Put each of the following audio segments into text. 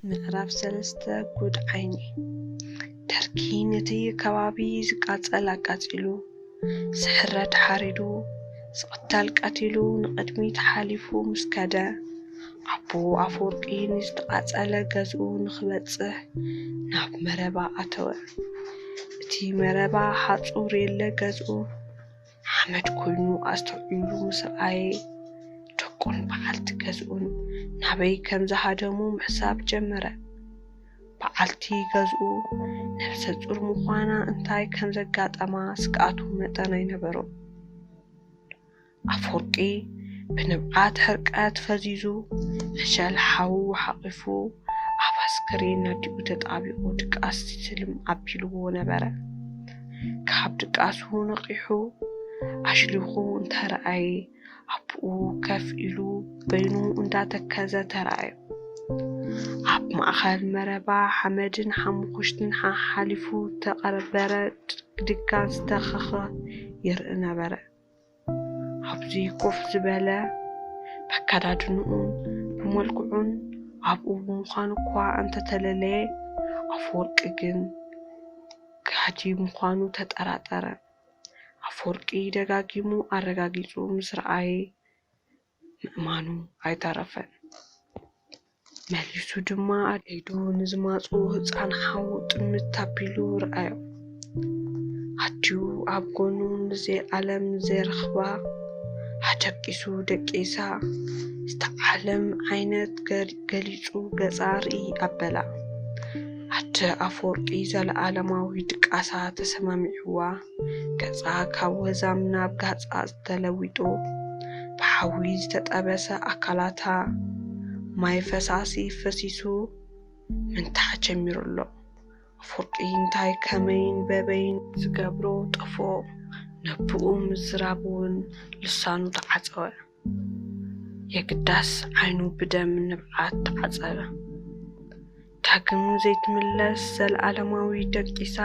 ምዕራፍ ሰለስተ ጉድ ዓይኒ ደርጊ ነቲ ከባቢ ዝቃፀል ኣቃፂሉ ዝሕረድ ሓሪዱ ዝቕተል ቀቲሉ ንቕድሚት ሓሊፉ ምስ ከደ፣ ኣቦ ኣፈወርቂ ንዝተቓጸለ ገዝኡ ንኽበጽሕ ናብ መረባ ኣተወ። እቲ መረባ ሓጹር የለ ገዝኡ ሓመድ ኮይኑ ኣስተውዒሉ ምስ ረኣየ፣ ደቁን በዓልቲ ገዝኡን ናበይ ከም ዝሃደሙ ምሕሳብ ጀመረ። በዓልቲ ገዝኡ ነፍሰ-ጹር ምዃና እንታይ ከም ዘጋጠማ ስግኣቱ መጠን ኣይነበሮን። ኣፍወርቂ ብንብዓት ሕርቀት ፈዚዙ ዕሸል ሓዉ ሓቚፉ ኣብ ኣስከሬን ኣዲኡ ተጣቢቑ ድቃስ ትልም ኣቢልዎ ነበረ። ካብ ድቃሱ ነቒሑ ኣሽሊኹ እንተረኣየ፣ ኣቡኡ ከፍ ኢሉ በይኑ እንዳተከዘ ተራእዮ። ኣብ ማእከል መረባ ሓመድን ሓሙኹሽትን ሓሓሊፉ ዝተቐበረ ድጋን ዝተኸኸ ይርኢ ነበረ። ኣብዚ ኮፍ ዝበለ በከዳድንኡን ብመልክዑን ኣቡኡ ብምዃኑ እኳ እንተተለለየ ኣፈወርቂ ግን ጋህዲ ምዃኑ ተጠራጠረ። ኣፈወርቂ ደጋጊሙ ኣረጋጊጹ ምስ ረኣየ ምእማኑ ኣይተረፈን። መሊሱ ድማ ኣብ ኢዱ ንዝማጽኡ ህጻን ሓዉ ጥምት ኣቢሉ ረኣዮ። ኣትዩ ኣብ ጎኑ ንዘልኣለም ዘይረኽባ ኣደቂሱ ደቂሳ ዝተዓለም ዓይነት ገሊጹ ገጻ ርእይ ኣበላ። ኣደ ኣፈወርቂ ዘለኣለማዊ ድቃሳ ተሰማሚዑዋ፣ ገጻ ካብ ወዛም ናብ ጋጻ ተለዊጡ፣ ብሓዊ ዝተጠበሰ ኣካላታ ማይ ፈሳሲ ፈሲሱ ምንታዕ ጀሚሩ ኣሎ። ኣፈወርቂ እንታይ ከመይን በበይን? ዝገብሮ ጠፍኦ፣ ነብኡ ምዝራብ'ውን ልሳኑ ተዓጸወ። የግዳስ ዓይኑ ብደም ንብዓት ተዓጸበ። ዳግም ዘይትምለስ ዘለኣለማዊ ደቂሳ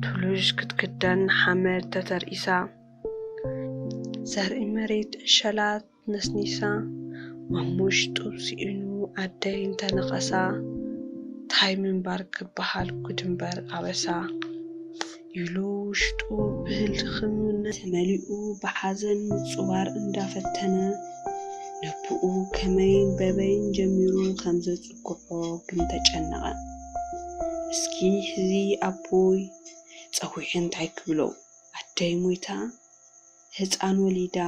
ቱሉዥ ክትክደን ሓመድ ተተርኢሳ ዘርኢ መሬት ዕሸላት ነስኒሳ ማሙሽ ጡብ ስኢኑ ኣደይ እንተነኸሳ ታይ ምንባር ክበሃል ጉድምበር ኣበሳ። ኢሉ ውሽጡ ብህልኽነት ተመሊኡ ብሓዘን ምጹባር እንዳፈተነ ነብኡ ከመይን በበይን ጀሚሩ ከምዘጽግዖ ግን ተጨነቐ። እስኪ ሕዚ ኣቦይ ጸዊዐ እንታይ ክብሎ? ኣደይ ሞይታ ህጻን ወሊዳ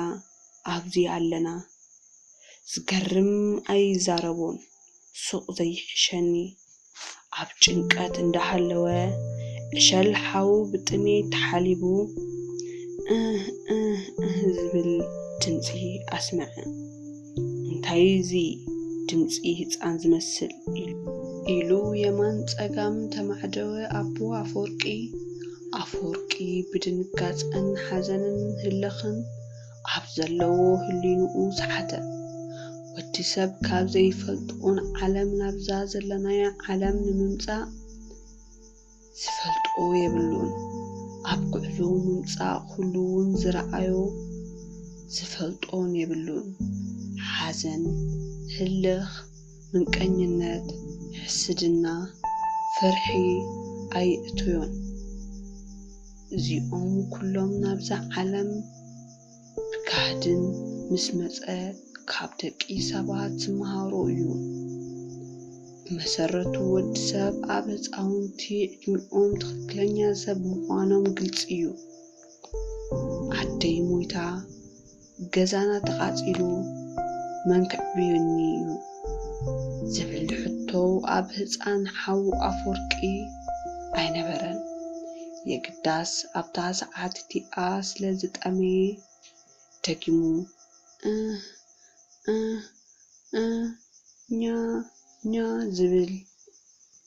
ኣብዚ ኣለና። ዝገርም ኣይዛረቦን ሱቕ ዘይሕሸኒ ኣብ ጭንቀት እንዳሃለወ ዕሸል ሓው ብጥሜት ተሓሊቡ እህ እህ እህ ዝብል ድምጺ ኣስመዐ። እንታይ እዚ ድምጺ ህጻን ዝመስል? ኢሉ የማን ጸጋም ተማዕደወ ኣቦ ኣፈወርቂ። ኣፈወርቂ ብድንጋጸን ሓዘንን ህልኽን ኣብ ዘለዎ ህሊንኡ ሰሓተ። ወዲ ሰብ ካብ ዘይፈልጥኦን ዓለም ናብዛ ዘለናዮ ዓለም ንምምጻእ ዝፈልጦ የብሉን። ኣብ ጉዕዞ ምምጻእ ኩሉውን ዝረኣዮ ዝፈልጦን የብሉን። ሓዘን፣ ህልኽ፣ ምንቀኝነት፣ ሕስድና፣ ፍርሒ ኣይእቶዮን። እዚኦም ኩሎም ናብዛ ዓለም ብጋህድን ምስ መጸ ካብ ደቂ ሰባት ዝመሃሮ እዩ። ብመሰረቱ ወዲ ሰብ ኣብ ህጻውንቲ ዕድሚኦም ትኽክለኛ ሰብ ምዃኖም ግልጺ እዩ። ኣደይ ሞይታ። ገዛና ተቓጺሉ መን ከዕብዩኒ እዩ ዝብል ሕቶ ኣብ ህጻን ሓው ኣፎርቂ ኣይነበረን። የግዳስ ኣብታ ሰዓት እቲኣ ስለ ዝጠመየ ደጊሙ እህ እህ እህ ኛ ኛ ዝብል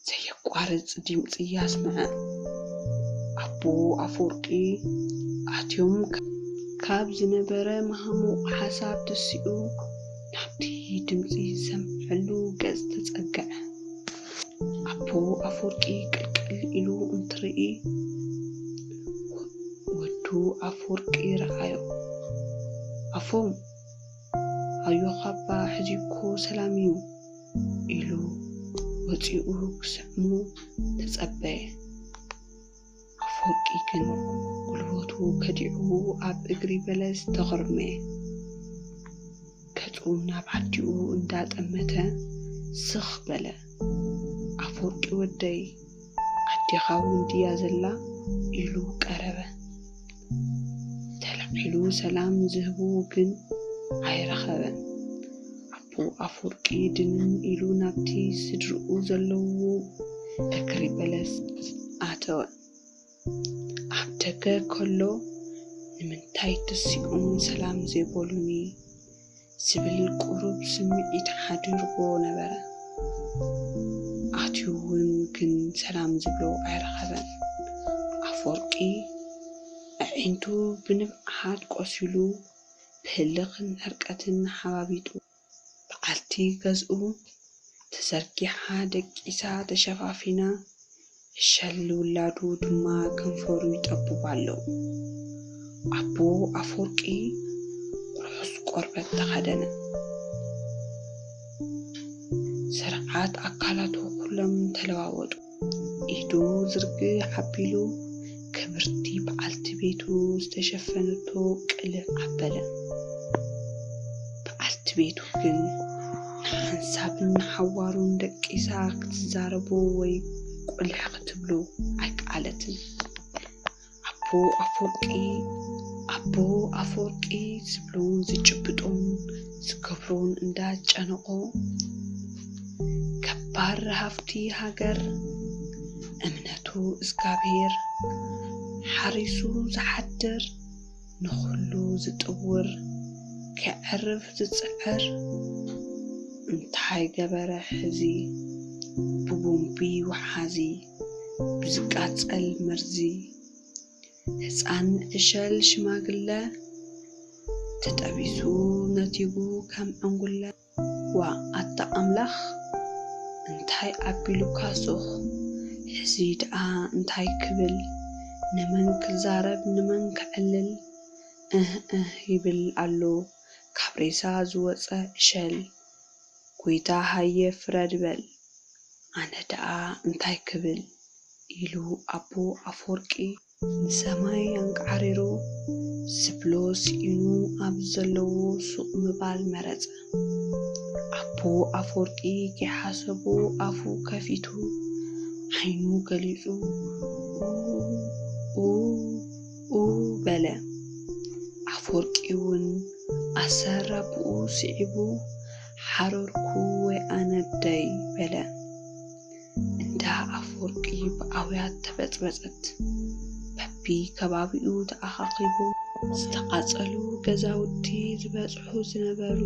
ዘየቋርጽ ዲምጺ ኣስምዐ። ኣቦ ኣፈወርቂ ኣትዮም ካብ ዝነበረ መሃሙቕ ሓሳብ ተሲኡ ናብቲ ድምጺ ዝሰምዐሉ ገጽ ተጸግዐ። ኣቦ ኣፈወርቂ ቅልቅል ኢሉ እንትርኢ ወዱ ኣፈወርቂ ረኣዮ። ኣፎም፣ ኣዮኻ'ባ ሕጂ'ኮ ሰላም'ዩ። ኢሉ ወጺኡ ክስዕሞ ተጸበየ። ኣፈወርቂ ግን ጉልበቱ ከዲዑ ኣብ እግሪ በለስ ተኾርመየ። ገጹ ናብ ኣዲኡ እንዳጠመተ ስኽ በለ። ኣፈወርቂ ወደይ ኣዴኻ እውን ድያ ዘላ? ኢሉ ቀረበ። ተላዒሉ ሰላም ዝህቡ ግን ኣይረኸበን። ኣቦ ኣፍወርቂ ድንን ኢሉ ናብቲ ስድርኡ ዘለውዎ ደከሪ በለስ ኣተወ። ኣብ ደገ ከሎ ንምንታይ ተሲኦም ሰላም ዘይበሉኒ? ዝብል ቁሩብ ስምዒት ሓዲርዎ ነበረ። ኣትዩ እውን ግን ሰላም ዝብሎ ኣይረኸበን። ኣፈወርቂ ኣዒንቱ ብንብዓት ቆሲሉ ብህልኽን ዕርቀትን ሓባቢጡ። በዓልቲ ገዝኡ ተዘርጊሓ ደቂሳ ተሸፋፊና ዕሸል ውላዱ ድማ ከንፈሩ ይጠብብ ኣሎ። ኣቦ ኣፈወርቂ ርሑስ ቆርበት ተኸደነ። ስርዓት ኣካላቱ ኩሎም ተለዋወጡ። ኢዱ ዝርግሕ ኣቢሉ ክብርቲ በዓልቲ ቤቱ ዝተሸፈነቶ ቅልዕ ኣበለ። በዓልቲ ቤቱ ግን ንሓንሳብን ንሓዋሩን ደቂሳ ክትዛረቦ ወይ ቁልሕ ክትብሎ ኣይከኣለትን። ኣቦ ኣፈወርቂ ኣቦ ኣፈወርቂ ዝብሎን ዝጭብጦን ዝገብሮን እንዳ ጨነቖ፣ ገባር ሃፍቲ ሃገር እምነቱ እዝጋብሄር ሓሪሱ ዝሓድር ንኹሉ ዝጥውር ከዕርፍ ዝጽዕር እንታይ ገበረ ሕዚ ብቦምቢ ወሓዚ ብዝቃጸል መርዚ ህፃን ዕሸል ሽማግለ ተጠቢሱ ነቲጉ ከም ዕንጉለ ዋእ ኣታ ኣምላኽ እንታይ ኣቢሉካ ሱቅ ሕዚ ድኣ እንታይ ክብል ንመን ክዛረብ ንመን ከዕልል እህ እህ ይብል ኣሎ ካብ ሬሳ ዝወጸ ዕሸል ጎይታ ሃየ ፍረድ በል ኣነ ድኣ እንታይ ክብል ኢሉ ኣቦ ኣፎርቂ ንሰማይ ኣንቃዕሪሩ ዝብሎ ስኢኑ ኣብ ዘለዎ ሱቕ ምባል መረጸ። ኣቦ ኣፈወርቂ ከይሓሰቦ ኣፉ ከፊቱ ዓይኑ ገሊጹ ኡኡ ኡኡ በለ። ኣፈወርቂ'ውን ኣሰር ኣቡኡ ስዒቡ ሓረርኩ ወይ ኣነደይ በለ። እንዳ ኣፍወርቂ ብኣውያት ተበጽበጸት። በቢ ከባቢኡ ተኣኻኺቦም ዝተቓጸሉ ገዛውቲ ዝበጽሑ ዝነበሩ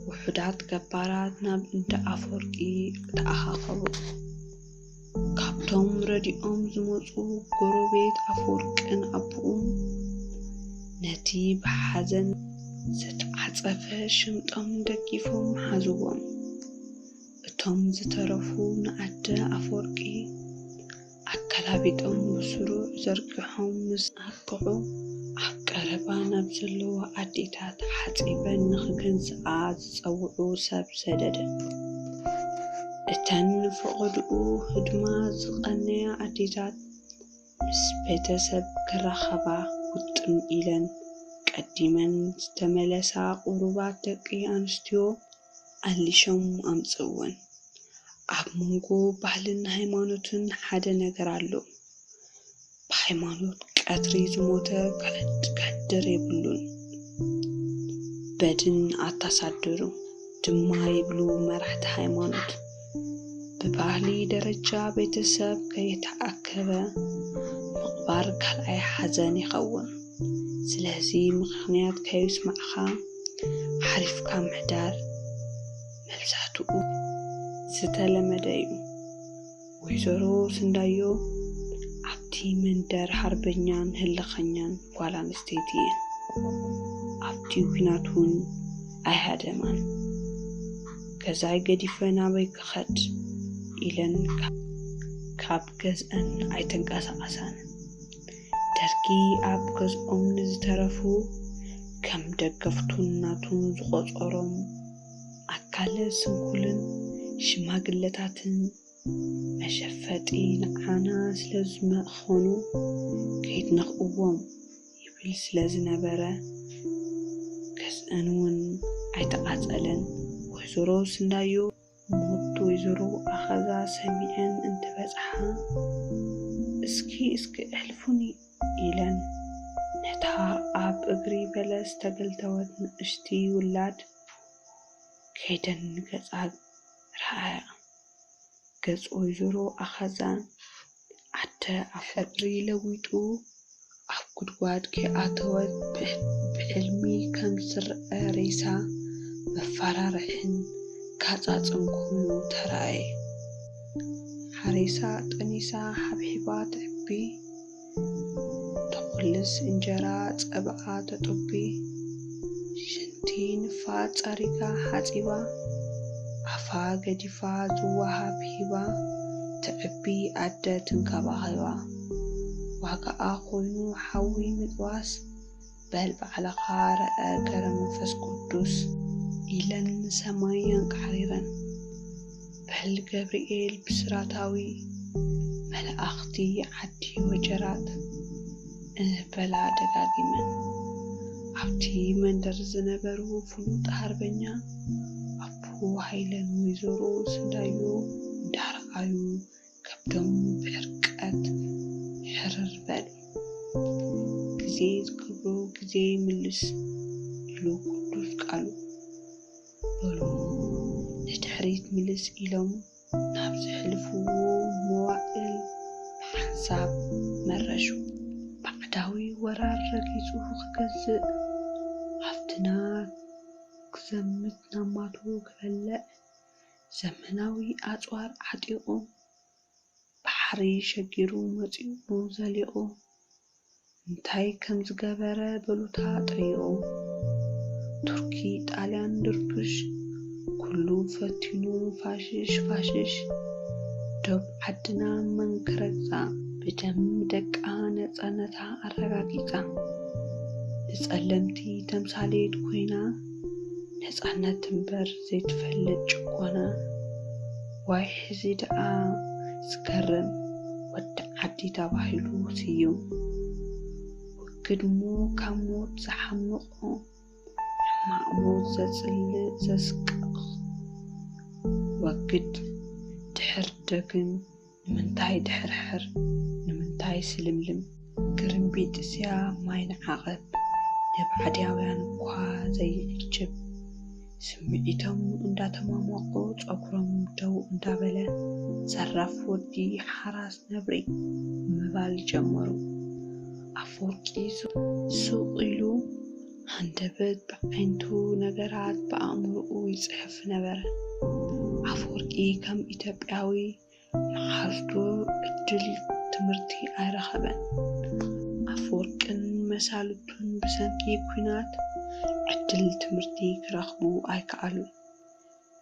ውሑዳት ገባራት ናብ እንዳ ኣፍወርቂ ተኣኻኸቡ። ካብቶም ረድኦም ዝመጹ ጎረቤት ኣፍወርቅን ኣቦኡን ነቲ ብሓዘን ዝተዓጸፈ ሽምጦም ደጊፎም ሓዝዎም። እቶም ዝተረፉ ንኣደ ኣፈወርቂ ኣገላቢጦም ብስሩዕ ዘርጊሖም ምስ ኣብቅዑ፣ ኣብ ቀረባ ናብ ዘለዋ ኣዴታት ሓጺበን ንኽገንዝኣ ዝጸውዑ ሰብ ሰደደ። እተን ንፈቐድኡ ህድማ ዝቐነያ ኣዴታት ምስ ቤተሰብ ክራኸባ ውጥም ኢለን ቀዲመን ዝተመለሳ ቁሩባት ደቂ ኣንስትዮ፣ ኣሊሾም ኣምጽእወን ኣብ መንጎ ባህልን ሃይማኖትን ሓደ ነገር ኣሎ ብሃይማኖት ቀትሪ ዝሞተ ክሕድር የብሉን በድን ኣታሳድሩ ድማ ይብሉ መራሕቲ ሃይማኖት። ብባህሊ ደረጃ ቤተሰብ ከይተኣከበ ምቕባር ካልኣይ ሓዘን ይኸውን። ስለዚ ምኽንያት ከዩስማዕኻ ዓሪፍካ ምሕዳር መብዛሕትኡ ዝተለመደ እዩ። ወይዘሮ ስንዳዮ ኣብቲ መንደር ሃርበኛን ህልኸኛን ጓል ኣንስተይቲ እየን። ኣብቲ ኲናት እውን ኣይሃደማን። ገዛይ ገዲፈ ናበይ ክኸድ ኢለን ካብ ገዝኣን ኣይተንቀሳቐሳን። ደርጊ ኣብ ገዝኦም ንዝተረፉ ከም ደገፍቱን ናቱን ዝቖጸሮም ኣካለ ስንኩልን ሽማግለታትን መሸፈጢ ንዓና ስለዝመኸኑ ከይትነኽእዎም ይብል ስለ ዝነበረ ገዝኣን እውን ኣይተቓፀለን። ወይዘሮ ስንዳዮ ሞት ወይዘሮ ኣኸዛ ሰሚዐን እንትበፅሓ እስኪ እስኪ እሕልፉኒ ኢለን ነታ ኣብ እግሪ በለስ ዝተገልተወት ንእሽቲ ውላድ ከይደን ንገፃ ረኣያ። ገጽ ወይዘሮ ኣኻዛ ዓደ ኣፍወርቂ ለዊጡ ኣብ ጉድጓድ ከይኣተወት ብሕልሚ ከም ዝረኣ ሬሳ መፈራርሕን ጋጻጽን ኮይኑ ተራእየ። ሓሪሳ ጠኒሳ ሓብሒባ ተዕቢ። ተኹልስ እንጀራ ጸብኣ ተጡቢ ሽንቲ ንፋጥ ጸሪጋ ሓጺባ ኣፋ ገዲፋ ዝወሃብ ሂባ ተዕቢ ኣደ ትንከባኺባ ዋጋኣ ኮይኑ ሓዊ ምጥባስ በል ባዕልኻ ረኣ ገረ መንፈስ ቅዱስ። ኢለን ንሰማይ ኣንቃዕሪረን በል ገብርኤል ብስራታዊ መላእኽቲ ዓዲ ወጀራት እህ በላ ደጋጊመን። ኣብቲ መንደር ዝነበሩ ፍሉጥ ሃርበኛ ኣቡ ሃይለን ወይዘሮ ስንዳዮ እንዳረኣዩ ከብዶም ብሕርቃት ሕርር በል። ግዜ ዝከብሮ ግዜ ይምልስ ኢሉ ቅዱስ ቃሉ። በሉ ንድሕሪት ምልስ ኢሎም ናብ ዘሕልፍዎ መዋእል ብሓንሳብ መረሹ። ባዕዳዊ ወራር ረጊጹ ክገዝእ ሃፍትና ክዘምት ናማቱ ክበልዕ ዘመናዊ ኣጽዋር ዓጢቑ ባሕሪ ሸጊሩ መጺኡ ዘሊቑ እንታይ ከም ዝገበረ በሉታ ጠይቑ ቱርኪ ጣልያን ድርቡሽ ኩሉ ፈቲኑ ፋሽሽ ፋሽሽ ዶብ ዓድና መን ክረግጻ ብደም ደቃ ነጻነታ ኣረጋጊጻ ንጸለምቲ ተምሳሌት ኮይና። ነፃነት እምበር ዘይትፈልጥ ጭቆና ዋይ ሕዚ ደኣ ዝገርም ወዲ ዓዲ ተባሂሉ ስዩም ውግድሞ ካብ ሞት ዝሓምቆ ሕማቅ ሞት ዘፅልእ ዘስቅቅ ወግድ ድሕር ደግም ንምንታይ ድሕርሕር ንምንታይ ስልምልም? ግርምቢጥስያ ማይ ንዓቐብ ንብዓድያውያን እኳ ዘይዕጅብ። ስምዒቶም እንዳተሟሟቑ ጸጉሮም ደው እንዳበለ ዘራፍ ወዲ ሓራስ ነብሪ ምባል ጀመሩ። ኣፈወርቂ ሱቕ ኢሉ ሃንደበት ብዓይንቱ ነገራት ብኣእምሮኡ ይጽሕፍ ነበረ። ኣፈወርቂ ከም ኢትዮጵያዊ መዓልቱ ዕድል ትምህርቲ ኣይረኸበን። ኣፈወርቅን መሳልቱን ብሰንኪ ኲናት ዕድል ትምህርቲ ክረኽቡ ኣይከኣሉን።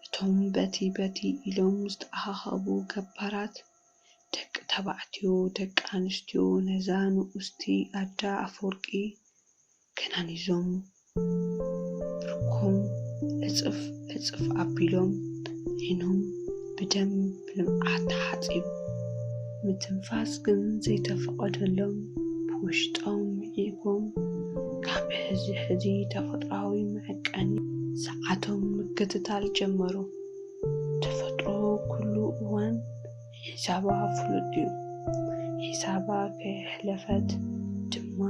እቶም በቲ በቲ ኢሎም ዝተኣኻኸቡ ገባራት ደቂ ተባዕትዮ ደቂ ኣንስትዮ ነዛ ንኡስቲ ኣደ ኣፈወርቂ ከናኒዞም ብርኮም ዕጽፍ ዕጽፍ ኣቢሎም ዒይኖም ብደም ብልምዓት ተሓጺቡ ምትንፋስ ግን ዘይተፈቐደሎም ብውሽጦም ዒይጎም ካብ ሕዚ ሕዚ ተፈጥሮኣዊ መዕቀኒ ሰዓቶም ምክትታል ጀመሩ። ተፈጥሮ ኩሉ እዋን ሒሳባ ፍሉጥ ዩ ሒሳባ ከየሕለፈት ድማ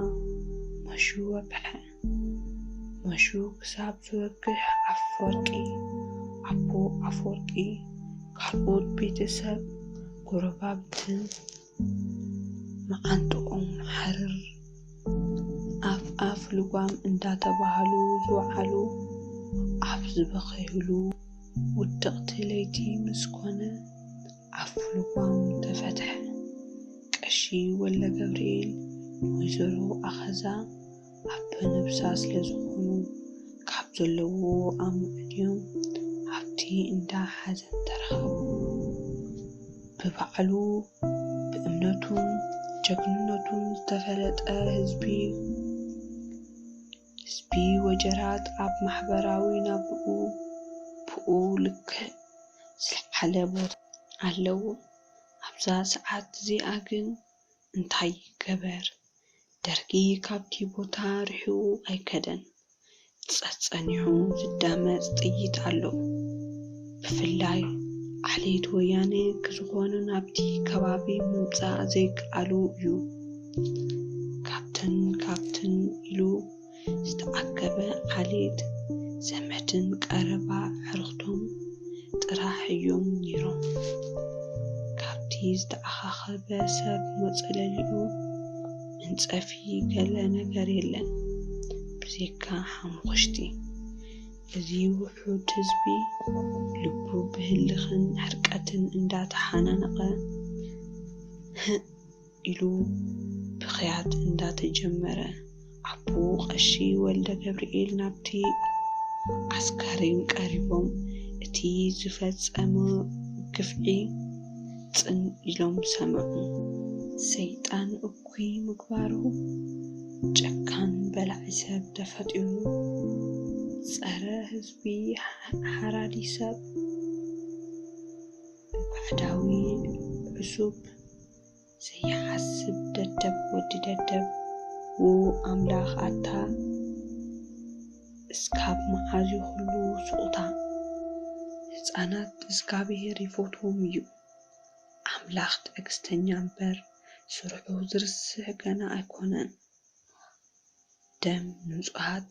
መሹ ወግሐ መሹ ክሳብ ዝወግሕ ኣፈወርቂ ኣቦ ኣፈወርቂ ካልኦት ቤተሰብ ጎረባብትን መዓንጥኦም ሓርር ኣፍ ኣፍ ልጓም እንዳተባሃሉ ዝወዓሉ ኣብ ዝበኸዩሉ ውድቕቲ ለይቲ ምስ ኮነ ኣፍ ልጓም ተፈትሐ። ቀሺ ወልደገብርኤል ንወይዘሮ ኣኸዛ ኣበ ነብሳ ስለ ዝኾኑ ካብ ዘለውዎ ኣማዕድዮም ኣብቲ እንዳ ሓዘን ተረኸቡ። ብባዕሉ ብእምነቱን ጀግንነቱን ዝተፈለጠ ህዝቢ ህዝቢ ወጀራት ኣብ ማሕበራዊ ናብርኡ ብኡ ልክዕ ዝለዓለ ቦታ ኣለዎ። ኣብዛ ሰዓት እዚኣ ግን እንታይ ይገበር? ደርጊ ካብቲ ቦታ ርሒቑ ኣይከደን። ጸጸኒሑ ዝዳመጽ ጥይት ኣሎ። ብፍላይ ዓሌት ወያነ ክዝኾኑ ናብቲ ከባቢ ምምጻእ ዘይከኣሉ እዩ። ካብትን ካብትን ኢሉ ዝተኣከበ ዓሌት ዘመድን ቀረባ ኣዕሩኽቱን ጥራሕ እዮም ነይሮም። ካብቲ ዝተኣኻኸበ ሰብ መጸለሊኡ መንጸፊ ገለ ነገር የለን ብዘይካ ሓሙኽሽቲ። እዚ ውሑድ ህዝቢ ልቡ ብህልኽን ሕርቀትን እንዳተሓናነቐ፣ ህእ! ኢሉ ብኽያት እንዳተጀመረ ኣቦኡ ቀሺ ወልደገብርኤል ናብቲ ኣስከሬን ቀሪቦም እቲ ዝፈጸሞ ግፍዒ ጽን ኢሎም ሰምዑ። ሰይጣን እኩይ ምግባሩ ጨካን በላዒ ሰብ ተፈጢሩ ጸረ ህዝቢ ሓራዲ ሰብ ባዕዳዊ ዕሱብ። ዘይሓስብ ደደብ ወዲ ደደብ። ውው ኣምላክ ኣታ እስካብ ማዓዝ ዩ ክሉ ሱቁታ ህፃናት እዝጋብሄር ይፎትዎም እዩ ኣምላክ ትዕግስተኛ እምበር ስርሑ ዝርስዕ ገና ኣይኮነን ደም ንፁሃት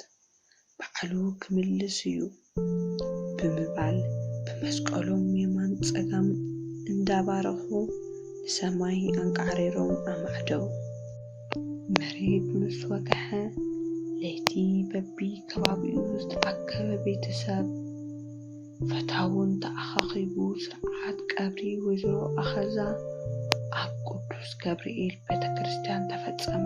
ባዕሉ ክምልስ እዩ ብምባል ብመስቀሎም የማን ፀጋም እንዳባረኹ ንሰማይ ኣንቃዕሪሮም ኣማዕደው። መሬት ምስ ወግሐ ለይቲ በቢ ከባቢኡ ዝተኣከበ ቤተሰብ ፈታውን ተኣኻኺቡ ስርዓት ቀብሪ ወይዘሮ ኣኸዛ ኣብ ቅዱስ ገብርኤል ቤተክርስትያን ተፈፀመ።